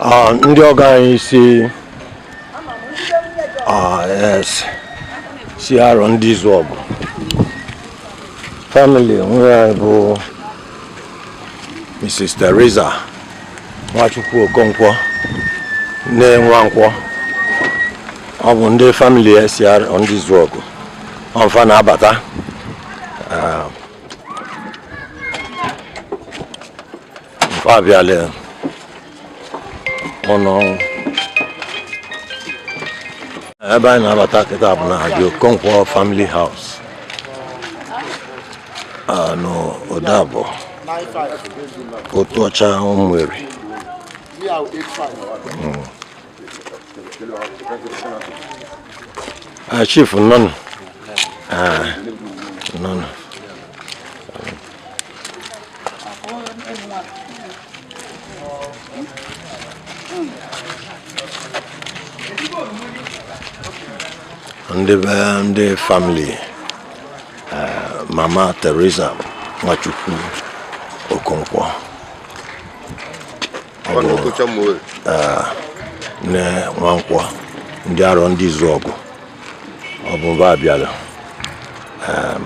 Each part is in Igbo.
Ah, ndị ọgọ anyị si ah, si Arondizuogu family nwunye anyị bụ Mrs. Teresa Nwachukwu Okonkwo nee Nwankwo ọ bụ ndị family si Arondizuogu ọ fa na-abata ọ fa ah. abịala ụnọ ebe anyị na-abata kịta bụ na the Okonkwo family house ah, n'Udeabọ Otuocha Umueri hmm. Ah, chief nnọọ nụ ah, nnọọ nụ ndị be ndị family ah, mama Teresa Nwachukwu Okonkwo nee Nwankwo ndị Arondizuogu ọ bụ mba abịala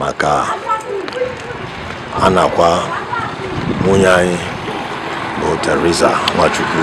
maka a na-akwa nwunye anyị bụ Teresa Nwachukwu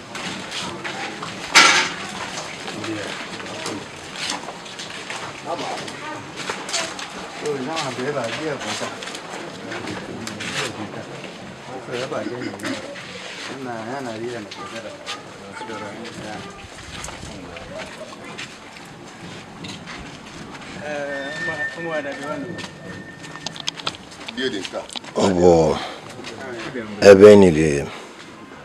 ọ bụ ebe e nyere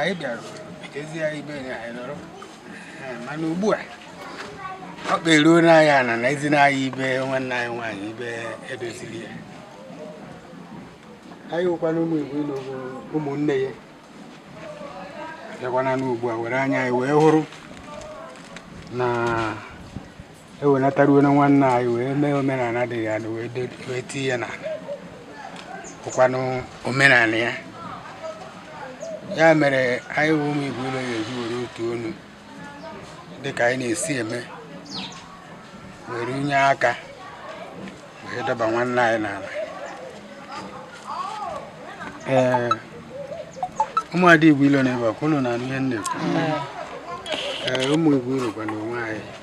anyị bịara ezi ya ibe ya anyị nọrọ mana ugbu a ọ kperuo n'anya na na ezi n'anya ibe nwanne anyị nwaanyị ibe e doziri ya anyị wụkwana ụmụ igbo na ụmụnne ya bịakwana n'ugbu a were anya anyị wee hụrụ na ewenataruo na nwanne anyị wee mee omenala dị ya wee tinye ya n'ala bụkwanụ omenala ya ya mere anyị bụ ụmụ Igbo ụlọ ya eji were otu onu dịka anyị na-esi eme were nye aka wee dọba nwanne anyị n'ala ee ụmụada Igbo ilo nọ ebe a ọkwa ụnụ na-anụ ihe m na-ekwu ee ụmụ Igbo urokwa na onwe anyị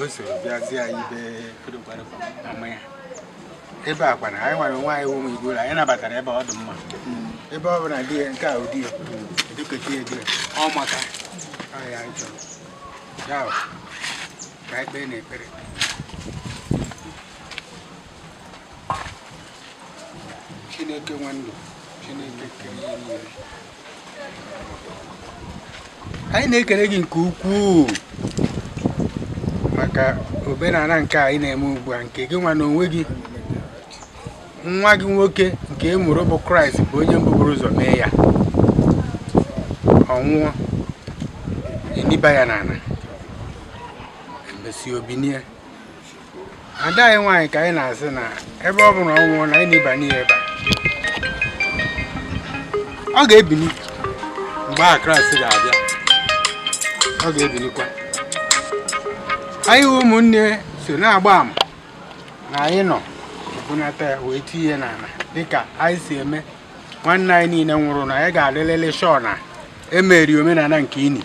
o soro bịazie anyị be kodokwadokwa mama ya ebe a kwana anyị nwere onwe anyị ụmụ igbo ụlọ anyị nabatara ebe ọ dị mma ebe ọ bụla di ya nke a ụdị ya edukọta ya di ya ọ maka ọ ya anyị chọrọ ya bụ, ka anyị kpeenụ ekpere chineke nwe ndụ chineke kere ihe niile anyị na-ekele gị nke ukwuu maka omenala nke anyị na-eme ugbu a nke gị nwa na onwe gị nwa gị nwoke nke ị mụrụ bụ kraịst bụ onye mbụ buru ụzọ mee ya ọ nwụọ e niba ya n'ala e mesịa o binie ada anyị nwaanyị ka anyị na-asị na ebe ọ bụ na ọ nwụọna anyị na-eniba n'ihe ebe a ọ ga-ebili mgbe ahụ kraịst ga-abịa ọ ga-ebilikwa anyị wụ ụmụnne so na-agba ama na anyị nọ ebunata ya wee tinye n'ala dịka anyị si eme nwanne anyị niile nwụrụ na anyị ga-adịlịlị sure na e mere omenala nke ini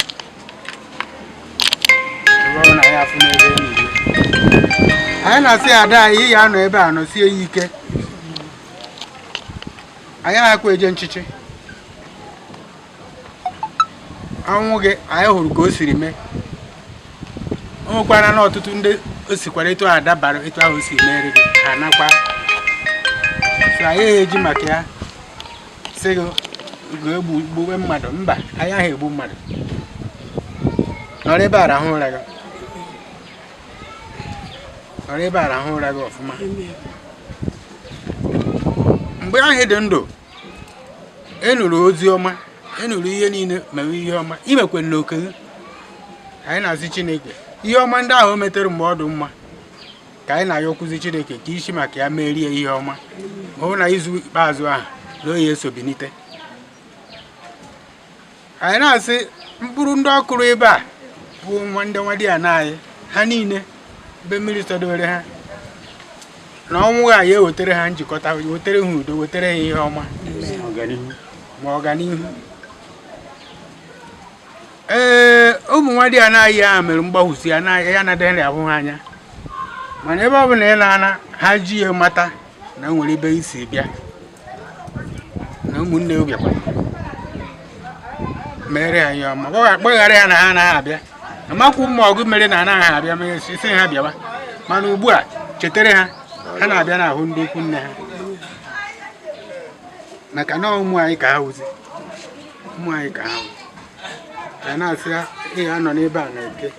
anyị na-asị ada anyị ya anọ ebe a nọsie ya ike anyị na-akwa eje nchịchị ọnwụ gị anyị hụrụ ka o siri mee o nwekwara na ọtụtụ ndị o sikwara etu a dabara etu ahụ o si mere gị ha nọkwa so anyị eji maka ya sị gị gaa gbuwe mmadụ mba anyị ahụ egbu mmadụ nọrọ ebe a rahụ ụra gị nọrọ ebe a rahụ ụra gị ọfụma mgbe ahụ ị dị ndụ ị nụrụ ozi ọma ị nụrụ ihe niile mewe ihe ọma ị mekwe na oke gị anyị na-asị chineke ihe ọma ndị ahụ o metere mgbe ọ dị mma ka anyị na-ayọkwuzi chineke ka i si maka ya meere ya ihe ọma hụ na izu ikpeazụ ahụ na ọ ya-eso binite anyị na-asị mkpụrụ ndị ọ kụrụ ebe a bụ nwa ndị nwadiana anyị ha niile be mmiri sọdowere ha na ọnwụ ha ya ewetara ha njikọta wetara ha udo wetara ha ihe ọma ma ọganihu ee ụmụ nwadiana anyị ahụ mere mgbahụsi ya na ya na-adịghị abụ ha anya mana ebe ọ bụ na ị naana ha ji ya mata na o nwere ibe i si bịa na ụmụnne gị bịakwa mere ya ihe ọma Gbagha- gbaghara ya na ha anaghị abịa amakwu ma ọgụ mere na anaghị abịa ma e sị ha bịawa mana ugbu a chetara ha ha na-abịa na-ahụ ndị ikwu nne ha maka na ụmụ anyị ka ha wụzi ụmụ anyị ka ha wụzi ka anyị na-asị ị ya anọ n'ebe a n'Eke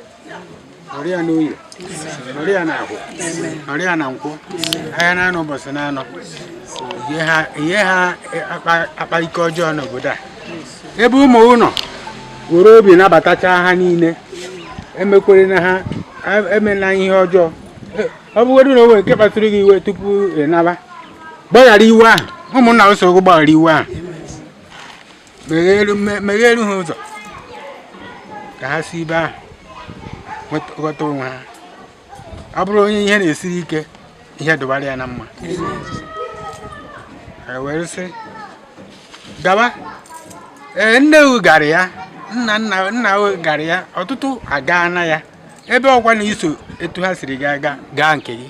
nọrọ ya n'Oye nọrọ ya n'Ahọ nọrọ ya na Nkwọ ahịa n'anọ ụbọchị n'anọ ị yaha- ị yaha akpa- akpa ike ọjọọ n'obodo a ebe ụmụ ụnọ were obi nabatacha ha niile emekwerena ha em- emela ihe ọjọọ E- ọ bụgodị na o nwere nke kpatụrụ gị iwe tupu ị naba gbaghara iwe ahụ ụmụnna sịrị gị gbaghara iwe ahụ megheru ha ụzọ ka ha si ibe ahụ ghọta onwe ha ọ bụrụ onye ihe na-esiri ike ihe dụbara ya na mma e were sị gaba ee nne gara ya nna nna nna gara ya ọtụtụ agaana ya ebe ọkwa na i so etu ha siri gaa gaa nke gị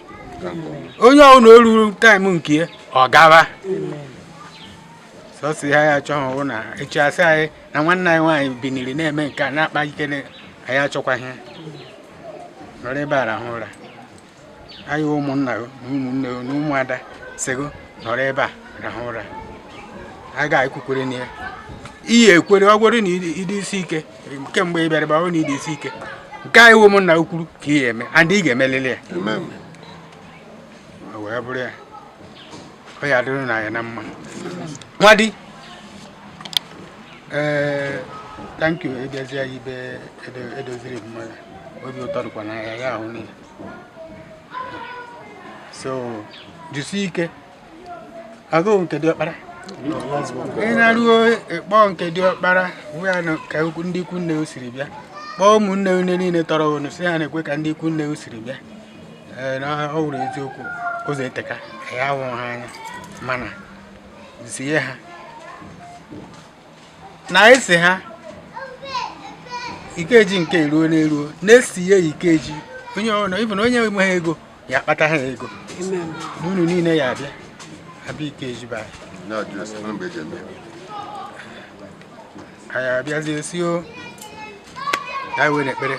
onye ọbụla o ruru time nke ọ gaba sọsọ ihe anyị achọghị bụ na echi a sị anyị na nwanne anyị nwaanyị biniri na-eme nke a na-akpa ike anyị achọkwaghị nọrọ ebe a rahụ ụra anyị ụmụnna na ụmụnne na ụmụada sịgo nọrọ ebe a rahụ ụra a ga-ekwukwere na ya ị ya ekwere ọ wụrụ na ị dị isi ike kemgbe ị bịara gbawo na ị dị isi ike nke anyị ụmụnna kwuru ka ị ga-eme and ị ga-emelili ya wee bụrụ ya ọ ya adịrị na ya na mma nwadi ee eh, thank you ị bịazi ya ibe e doziri mma ya obi ụtọ dịkwa na ya ya ahụ niile so jisie ike agụụ nke diọkpara ị naruo ị kpọọ nke diọkpara ya ka ndị ikwu nne o siri bịa kpọọ ụmụnne unu niile tọrọ unu sị ha nekwa ka ndị ikwu nne o siri bịa ee na ọ wụrụ eziokwu ụzọ eteka ka ya hụrụ ha anya mana zie ha na esi ha ikeji nke eruo n'eruo na-esi ya ikeji onye ọbụla even onye enweghị ego ya akpata ha ego na unu niile ya abịa abịa ikeji be anyị anyị abịazie si o ya were ekpere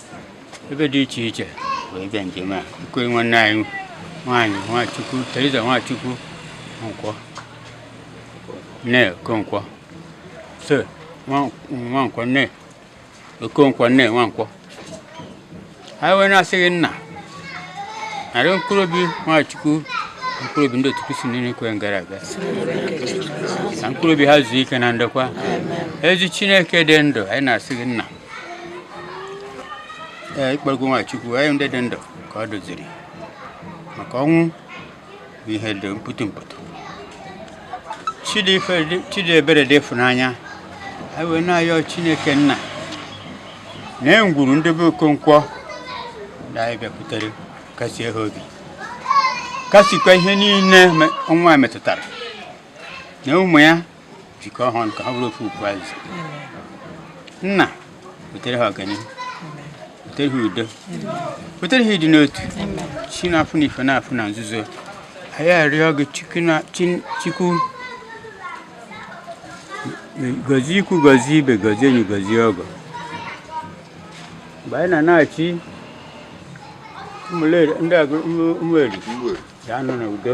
ebe dị iche iche wee bịa njem a nke nwanne anyị nwaanyị nwachukwu theresa nwachukwu okonkwọ nee okonkwọ so nwankwọ nee okonkwọ nee nwankwọ anyị wee na-asị gị nna nara mkpụrụ obi nwachukwu mkpụrụ obi ndị otu kristi niile kwerenụ gara aga na mkpụrụ obi ha zuo ike na ndokwa ezi chineke dị ndụ anyị na-asị gị nna ee ị kpọgo nwachukwu anyị ndị dị ndụ ka ọ doziri maka ọnwụ bụ ihe dị mpụtụ mpụtụ chi dị ebere dị ịfụnanya anyị wee na-ayọ chineke nna n'ime ngwuru ndị be okonkwo na anyị bịakwutere kasie ha obi kasikwa ihe niile ọnwụ a metụtara na ụmụ ya jikọọ ha ọnụ ka ha bụrụ ofu ukwu azịza nna butere ha ọganihu butere ha udo butere ha ịdị n'otu chi na-afụ n'ife na-afụ na nzuzo anyị arịọ gị chukwu na- chi- chukwu gọzie ikwu gọzie ibe gọzie enyi gọzie ọgọ mgbe anyị na-anachi ụmụeri ụmụeri ga-anọ n'udo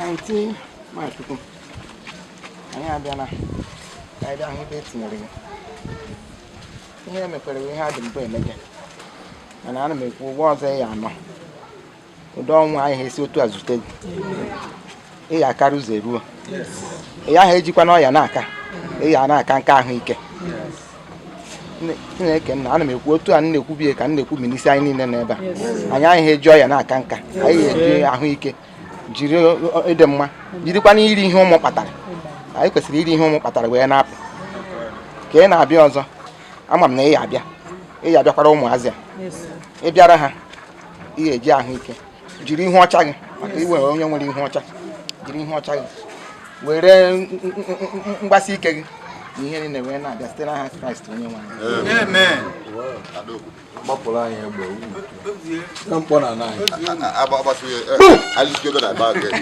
Auntie, Nwachukwu. Anyị abịala ka anyị bịa hụ ebe e tinyere gị. Ihe mekwere bụ ihe a dị mbụ emege. Mana ana m ekwu ụwa ọzọ ị ya-anọ. ụdị ọnwụ ayaha esi otu a zute gị ị ya akara ụzọ eruo ị yaha ejikwanụ ọya na-aka ị ya na-aka nka ahụike chineke nna ana m ekwu otu a na-ekwu bie ka m na-ekwu minisi anyị niile n'ebe a anyị ayaha eji ọya na-aka nka anyị eji ahụike jiri ịdị mma jirikwana iri ihe ụmụ kpatara anyị kwesịrị iri ihe ụmụ kpatara wee na-apụ ka ị na-abịa ọzọ ama m na ị ya abịa ị ya abịakwara ụmụazị a ị bịara ha ị ga-eji ahụike jiri ihu ọcha gị maka ị wụ onye nwere ihu ọcha jiri ihu ọcha gị were mgbasi ike gị na ihe niile wee na-abịa site n'aha kraịst onye nwe anyị gbapụrụ anyị egbe na mkpọnanị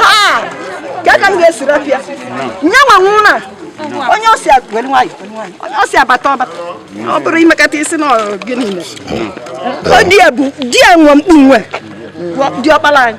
ha ka ka m ga-esiri ọfịa nye nwa nwụ na onye ọ sị were nwayọ onye ọ sị ya bata ọ bata ọ bụrụ i mekata ị sị na gị niile di ya bụ di ya nwe mkpu nwe diọkpala anyị